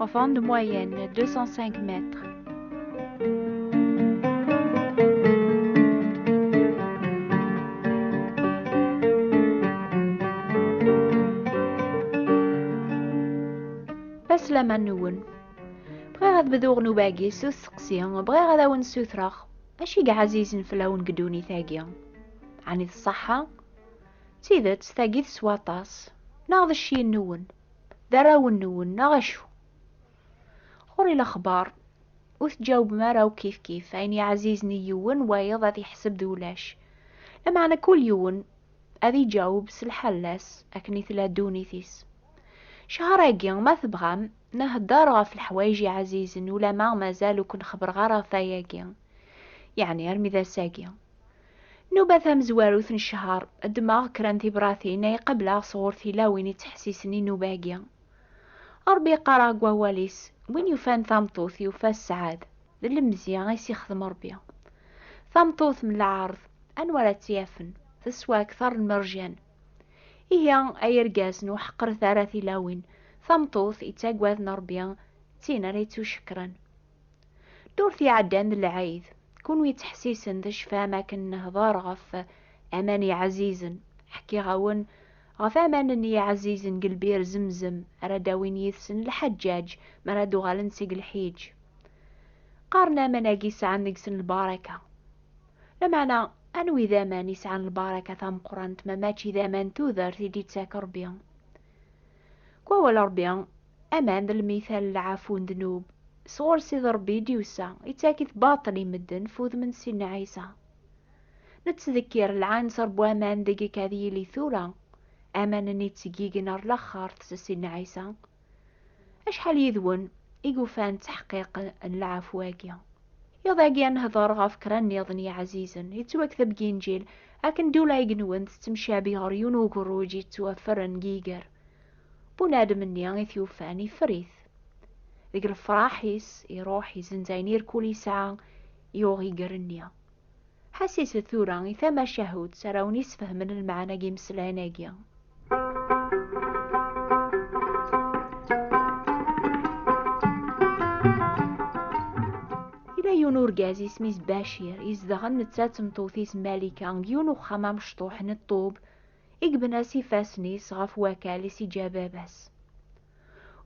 Enfant de moyenne, 205 mètres. Aslam-nwen. Bɣiɣ ad bduɣ nubagi s usteqsi, bɣiɣ ad awen-ssutreɣ. Acu i ɛazizen fell-awen deg ddunit-agi? Ɛni d ṣṣeḥḥa? D tidet, tagi teswa aṭas. Neɣ d cci-nwen? d arraw-nwen neɣ acu? Ɣur-i lexbar, ur teǧawbem ara akk kifkif, ayen yeɛzizen i yiwen, wayeḍ ad yeḥseb d ulac. Lameɛna kul yiwen ad iǧaweb s lḥala-s, akken i tella ddunit-is. Ccehṛ-agi, ma tebɣam, nheddeṛ ɣef leḥwayeǧ iɛzizen, ulamma mazal ur ken-xebbṛeɣ ara ɣef wayagi, yeɛni armi d ass-agi. Nuba tamezwarut n ccher, ddmeɣ kra n tibratin ay qableɣ sɣur tilawin yettḥessisen i nnuba-agi. Ṛebbi yeqqar-aɣ deg Wawal-is, Win yufan tameṭṭut, yufa sseɛd, d lemzeyya ay as-ixdem Ṛebbi. Tameṭṭut n lɛerḍ, anwa ara tt-yafen? Teswa akteṛ n merjan. Ihi, ay irgazen, ur ḥeqqret ara tilawin. Tameṭṭut yettaggaden Ṛebbi, d tin ara yettucekkren. Ddurt iɛeddan d lɛid, kunwi yettḥessisen tecfam akken nehder ɣef aman iɛzizen, ḥkiɣ-awen ɣef aman n yiɛzizen deg lbir zemzem ara d-awin yid-sen lḥaǧǧaǧ mi ara d-uɣalen seg lḥiǧ. Qqaren aman-agi sɛan deg-sen lbaraka. Lameɛna, anwi d aman i sɛan lbaraka tameqqrant ma mačči d aman n tudert i d-yettak Ṛebbi? Deg wawal n Ṛebbi, Aman d lmital n lɛafu n ddnub, sɣur Sidi Ṛebbi i d-yusa, ittak-it baṭel i medden f udem n Sidna Ɛisa. Nettdekkir lɛanser n waman deg-k ad yili tura, aman-nni yettggigen ɣer laxert s Sidna Ɛisa. Acḥal yid-wen i yufan ttaḥqiq n lɛafu-agi? Iḍ-agi ad nehder ɣef kra nniḍen n yiɛzizen, yettwakteb deg Inǧil, akken d ulayeg-nwen tettemcabi ɣer yiwen ugerruj yettwafren deg yiger. Bunadem-nni i t-yufan ifer-it. Deg lefraḥ-is, iruḥ izenz ayen irkul yesɛa, yuɣ iger-nni. Ḥassiset tura i tamacahut ara wen-isfehmen lmeɛna n yimeslayen-agi. Yella yiwen urgaz isem-is Bacir, izedɣen netta d tmeṭṭut-is Malika deg yiwen uxxam amecṭuḥ n ṭṭub, i yebna s ifassen-is ɣef wakal i s-iǧǧa baba-s.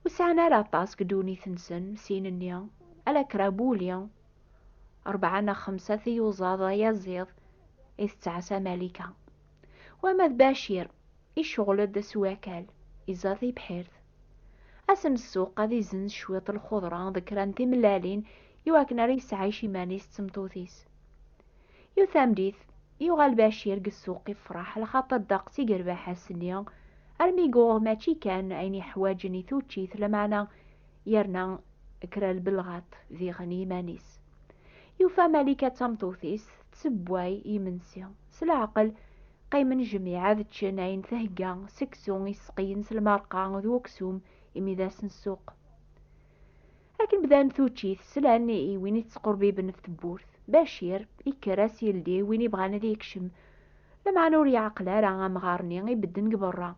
Ur sɛan ara aṭas deg ddunit-nsen, sin-nni, ala kra wuli, rebɛa neɣ xemsa tiyuẓaḍ ayaziḍ i tettɛassa Malika. Wama d Bacir, iceɣl-d s wakal, iẓa tibḥirt. Asen ssuq ad izenz cwiṭ lxudra d kra n timellalin i wakken ara yesɛic iman-is d tmeṭṭut-is. Yiwet tameddit, yuɣal Bacir deg ssuq ifreḥ lxaṭer deqs i yerbeḥ ass-nni, armi yuɣ mačči kan ayen yeḥwaǧen i tuččit lameɛna yerna kra lbelɣaṭ diɣen i yiman-is. Yufa Malika d tameṭṭut-is tessewway imensi. S leɛqel, qqimen jmiɛ ad ččen ayen thegga, seksu iseqyen s lmerqa d uksum, imi d ass n ssuq. Akken bdan tuččit, slan i win i tettqurbiben ɣef tewwurt. Bacir, yekker-as yeldi i win ibɣan ad yekcem. Lameɛna ur yeɛqel ara amɣar-nni ibedden deg berra.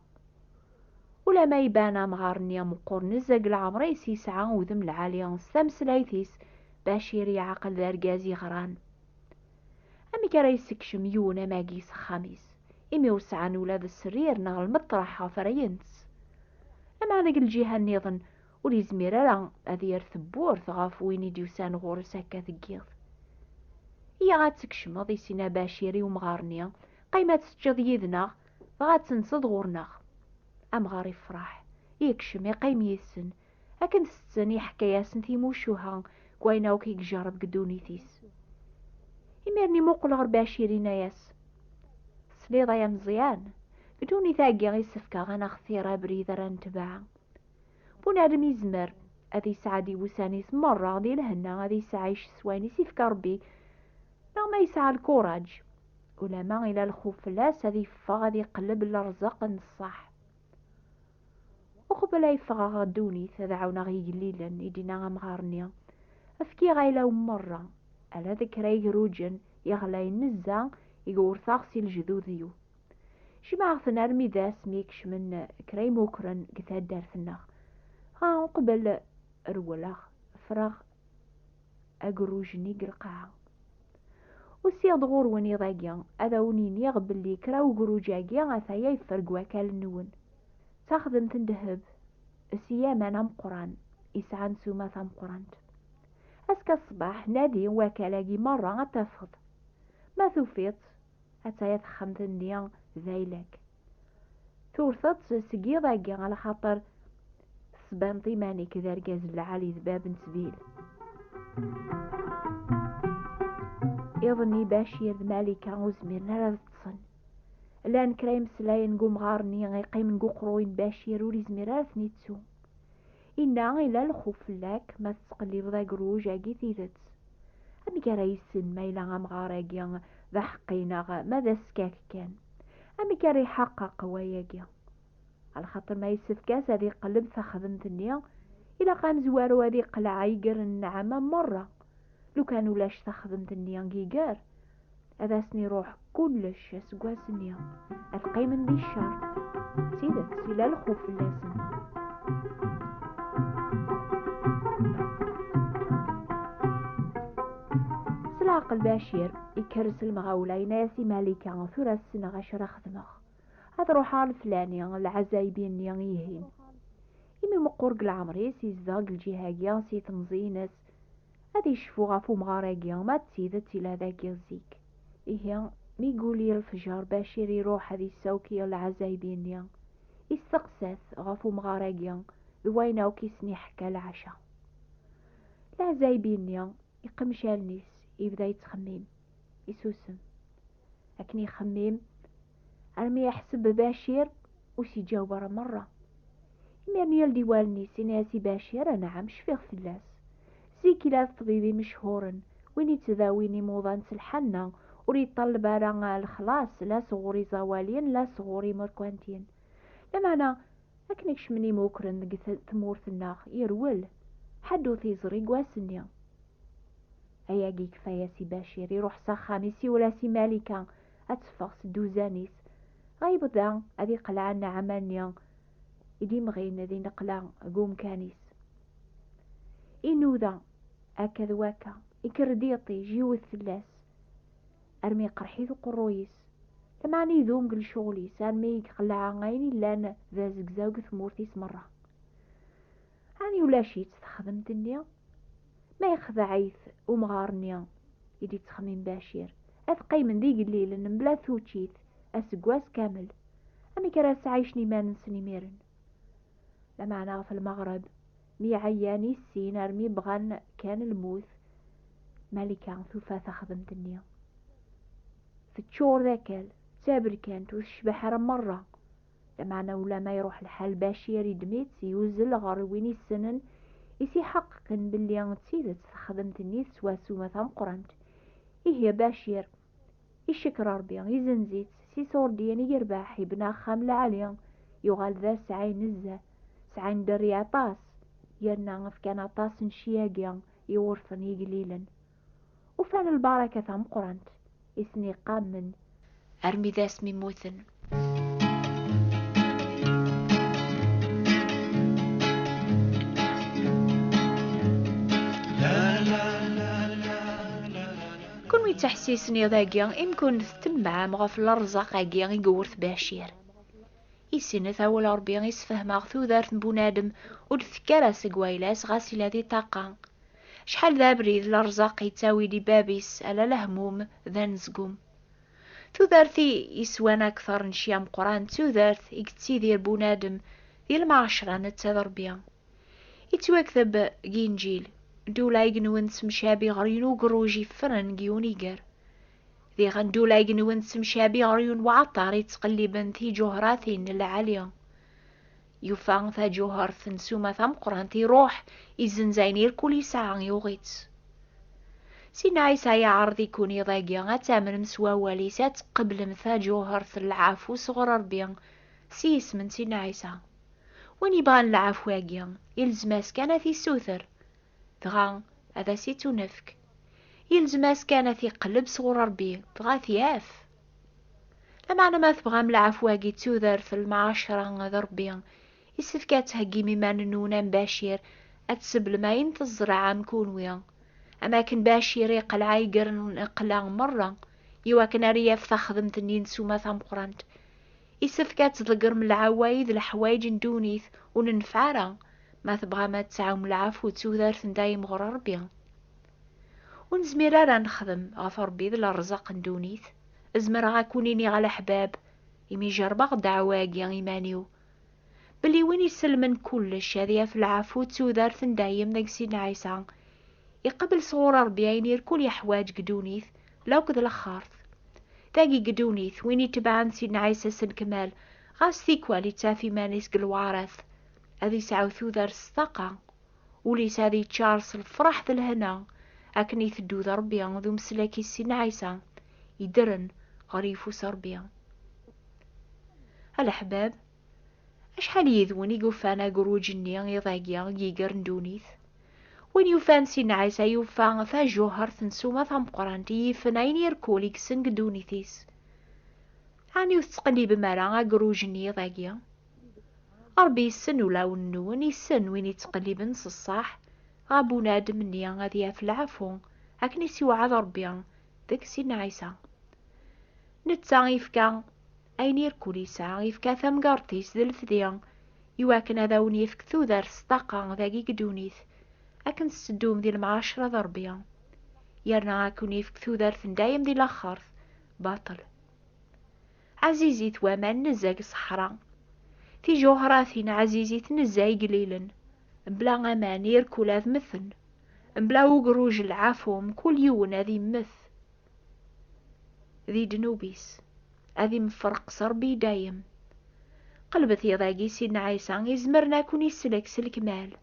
Ulama iban amɣar-nni ameqqur nezzeh deg leɛmer-is, yesɛa udem lɛali. S tameslayt-is, Bacir yeɛqel d argaz yeɣran. Amek ara yessekcem yiwen am agi s axxam-is, imi ur sɛan ula d srir neɣ lmeṭreḥ ɣef ara yens? Lameɛna deg lǧiha-nniḍen, Ur yezmir ara ad yer tewwurt ɣef win i d-yusan ɣur-s akka tgiḍ. Iyya ad tkecmeḍ, i Sina Bacir, i umɣar-nni, qqim ad teččeḍ yid-neɣ, dɣa ad tenseḍ ɣur-neɣ. Amɣar yefreḥ, yekcem, iqqim yid-sen. Akken ttetten, iḥekka-yasen timucuha n wayen akk i ijerreb deg ddunit-is. Imiren imuqel ɣer Bacir, yenna-yas, Tesliḍ ay ameẓyan, deg ddunit-agi i sefkeɣ ad naxtir abrid ara netbeɛ. Bunadem yezmer ad yesɛeddi wussan-is merra di lhenna, ad yesɛic s wayen i s-ifka Rebbi, neɣ ma yesɛa lkuraǧ, ulama ila lxuf fell-as, ad yeffeɣ ad iqelleb lerẓeq n ṣṣeḥ. Uqbel ay ffɣeɣ ɣer ddunit, ad ɛawneɣ igellilen, i d-yenna amɣar-nni. Fkiɣ ayla-w merra, ala d kra igruǧen, iɣlayen nezza, i gewrteɣ si lejdud-iw. Jemɛeɣ-ten armi d ass mi kecmen kra imukren deg taddart-nneɣ. Dɣa uqbel rewleɣ, ffreɣ agerruj-nni deg lqaɛa. Usiɣ-d ɣur-wen iḍ-agi ad awen-iniɣ belli kra ugerruj-agi ataya yeffer deg wakal-nwen. D taxdemt n ddheb s yaman ameqqran yesɛan ssuma tameqqrant. Azekka ṣṣbeḥ nadi wakal-agi merra ad tafeḍ. Ma tufiḍ-tt, Attaya texxamt-nni d ayla-k. Tewrteḍ-tt seg yiḍ-agi ala xaṭer tesbaneḍ iman-ik d argaz n lɛali d bab n ttbil. Iḍ-nni Bacir d Malika ur zmiren ara ad ṭṭsen. Llan kra imeslayen deg umɣar-nni iqqimen deg uqerruy n Bacir ur yezmir ara ad ten-ittu. Inna, Ila lxuf fell-ak ma tettqellibeḍ agruj agi tidet. Amek ara yissen ma yella amɣar agi d aḥeqqi neɣ ma d askak kan? Amek ara iḥaqeq wayagi? Alxaṭer ma yessefk-as ad iqelleb taxdemt-nni, ilaq amezwaru ad iqleɛ iger n nnɛama merra. Lukan ulac taxdemt-nni giger, ad asen-iruḥ kullec aseggas-nni, ad qqimen di ccer. D tidet, yella lxuf fell-asen. S leɛqel Bacir, ikerres lemɣawla, yenna-as i Malika, tura ssneɣ acu ara xedmeɣ. Ad ruḥeɣ ar leflani, lɛazaybi-nni ihin. Imi meqqur deg leɛmer-is, yezdeɣ deg lǧiha-agi, si temẓi-ines, Ad yecfu ɣef umɣar-agi, ma d tidet yella dagi zik. Ihi, mi yuli lefjer, Bacir iruḥ ad yessawek lɛazayeb-nni. Yesteqsa-t ɣef umɣar-agi d wayen akk i sen-iḥekka leɛca. Lɛazayeb-nni, iqemec allen-is, yebda yettxemmim. Isusem. Akken ixemmim, armi iḥseb Bacir ur s-iǧaweb ara merra. Imir-nni yal di wallen-is, yenna-as i Bacir, Anɛam, cfiɣ fell-as. Zik yella d ṭṭbib imechhuren, win yettdawin imuḍan s lḥanna, ur yeṭṭalleb ara lexlaṣ la sɣur iẓawaliyen la sɣur imerkantiyen. Lameɛna, akken kecmen imukren deg tmurt-nneɣ, yerwel. Ḥedd ur t-yeẓri deg wass-nni. Ay agi kfaya-s i Bacir, iruḥ s axxam, isiwel-as i Malika ad teffeɣ s dduzan-is, dɣa yebda ad iqleɛ nneɛma-nni i d-imɣin di neqla deg umkan-is. Inuda akka d wakka, ikker-d yiṭij, iwet fell-as, armi iqerḥ-it uqerruy-is, lameɛna idum deg lecɣel-is, armi i iqleɛ ayen yellan d azegzaw deg tmurt-is merra. Ɛni ulac-itt texdemt-nni? Ma yexdeɛ-it umɣar-nni i d-yettxemmim Bacir, ad qqimen d igellilen mebla tuččit aseggas kamel. Amek ara sɛaycen iman-nsen imiren? Lameɛna ɣef lmeɣreb, mi ɛyan i sin armi bɣan kan lmut, Malika tufa taxdemt-nni. Teččur d akal, d taberkant, ur tecbeḥ ara merra. Lameɛna ulamma iruḥ lḥal Bacir iddem-itt, yuzzel ɣer win issenen, i s-iḥeqqqen belli d tidet texdemt-nni teswa ssuma tameqqrant. Ihi a Bacir, icekkeṛ Ṛebbi, izenz-itt, s iṣurdiyen i yerbeḥ, ibna axxam lɛali, yuɣal d asɛi nezzeh, sɛan dderya aṭas, yerna fkan aṭas n cci-agi i wurfen yeglilen. Ufan lbaraka tameqqrant i sen-iqammen armi d asmi mmuten. Kunwi ttaḥsisen iḍ-agi imi kun temmɛem ɣef lerẓaq-agi i yewwert Bacir. Isinet awal Ṛebbi i sfehmeɣ tudert n bunadem ur d-tekki ara seg wayla-s ɣas ila di ṭṭaqa. Acḥal d abrid lerzaq yettawin i bab-is ala lehmum d anezgum. Tudert i yeswan akteṛ n cci ameqqran d tudert i yettidir bunadem di lmaɛecra netta d Ṛebbi. Yettwakteb deg Inǧil, Ddula igenwen tessemcabi ɣer-yen ugerruj yeffren deg yiwen iger. Diɣen ddula igenwen tessemcabi ɣer-yen uɛeṭṭaṛ yettqelliben tiǧuhṛatin n lɛali. Yufa taǧuhert n suma tameqqrant iruḥ izenz ayen irkul yesɛa yuɣ-itt. Sina Ɛisa yeɛreḍ ikun iḍ-agi ad tamnem s wawal-is ad tqeblem taǧuhert n lɛafu sɣur Rebbi s yisem n Sina Ɛisa. Win yebɣan lɛafu-agi, ilzem-as kan ad t-issuter, dɣa ad as-ittunefk. yelzem-as kan ad t-iqelleb sɣur Rebbi, dɣa ad t-yaf. Lameɛna ma tebɣam lɛafwa-agi d tudert n lmɛacra d Rebbi, yessefk ad theggim iman-nwen am Bacir, ad tseblem ayen tezreɛem kunwi. Am akken Bacir iqelɛa iger n lqella merra, iwakken ara yaf taxdemt n yinsuma tameqqrant. Yessefk ad tḍeggrem lɛaway d leḥwayeǧ n ddunit ur nenfeɛ ara, Ma tebɣam ad tesɛum lɛafu d tudert n dayem ɣur Ṛebbi. Ur nezmir ara ad nexdem ɣef Ṛebbi d lerẓaq n ddunit. Zemreɣ ad kun-iniɣ a leḥbab, imi jerbeɣ ddeɛwa-agi iman-iw, belli win isellmen kullec ad yaf lɛafu d tudert n dayem deg Sidna Ɛisa, iqabel sɣur Ṛebbi ayen irkul yeḥwaǧ deg ddunit, lakk d lexxart. Dagi deg ddunit, win itebɛen Sidna Ɛisa s lkmal, ɣas tikwal ittaf iman-is deg lewɛaṛat. ad yesɛu tudert s taqa, ul-is ad yeččar s lefraḥ d lehna, akken iteddu d Rebbi d umeslak-is si Nɛisa, yeddren ɣer yifus Rebbi. A leḥbab, acḥal yid-wen i yufan agruǧ-nni iḍ-agi i yegren ddunit? Win yufan si Nɛisa yufa tajuhert n ssuma tameqqrant i yifen ayen irkul i yessen deg ddunit-is. Ɛni ur tettqellibem ara agruj-nni iḍ-agi? Ṛebbi yessen ulawen-nwen, yessen win yettqelliben s ṣṣeḥ ɣer bunadem-nni ad yaf lɛafu, akken i s-iwɛed Ṛebbi deg Sidna Ɛisa. Netta yefka ayen irkul yesɛa, yefka tamgerṭ-is d lefdi i wakken ad awen-yefk tudert s ṭṭaqa dagi deg ddunit, akken tetteddum di lemɛacra d Ṛebbi, yerna ad ken-yefk tudert n dayem di laxert, baṭel. Ɛzizit waman nezzeh deg ṣṣeḥra. Tijuhratin ɛzizit nezzeh igellilen. Mebla aman irkul ad mmten. Mebla ugruj lɛafu mkul yiwen ad immet di ddnub-is, ad imferq s Rebbi i dayem. Qelbet iḍ-agi Sidna Ɛisa izemren ad ken-isellek s lekmal.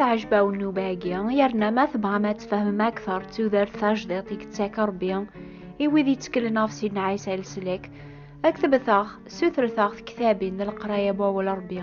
teɛjeb-awen nnuba-agi yerna ma tebɣam ad tfehmem akteṛ d tudert tajdiṭ i yettak Ṛebbi i wid yetteklen ɣef Sidna Ɛisa leslak, ad k-tebteɣ, sutret-aɣ tektabin n leqraya n wawal Ṛebbi.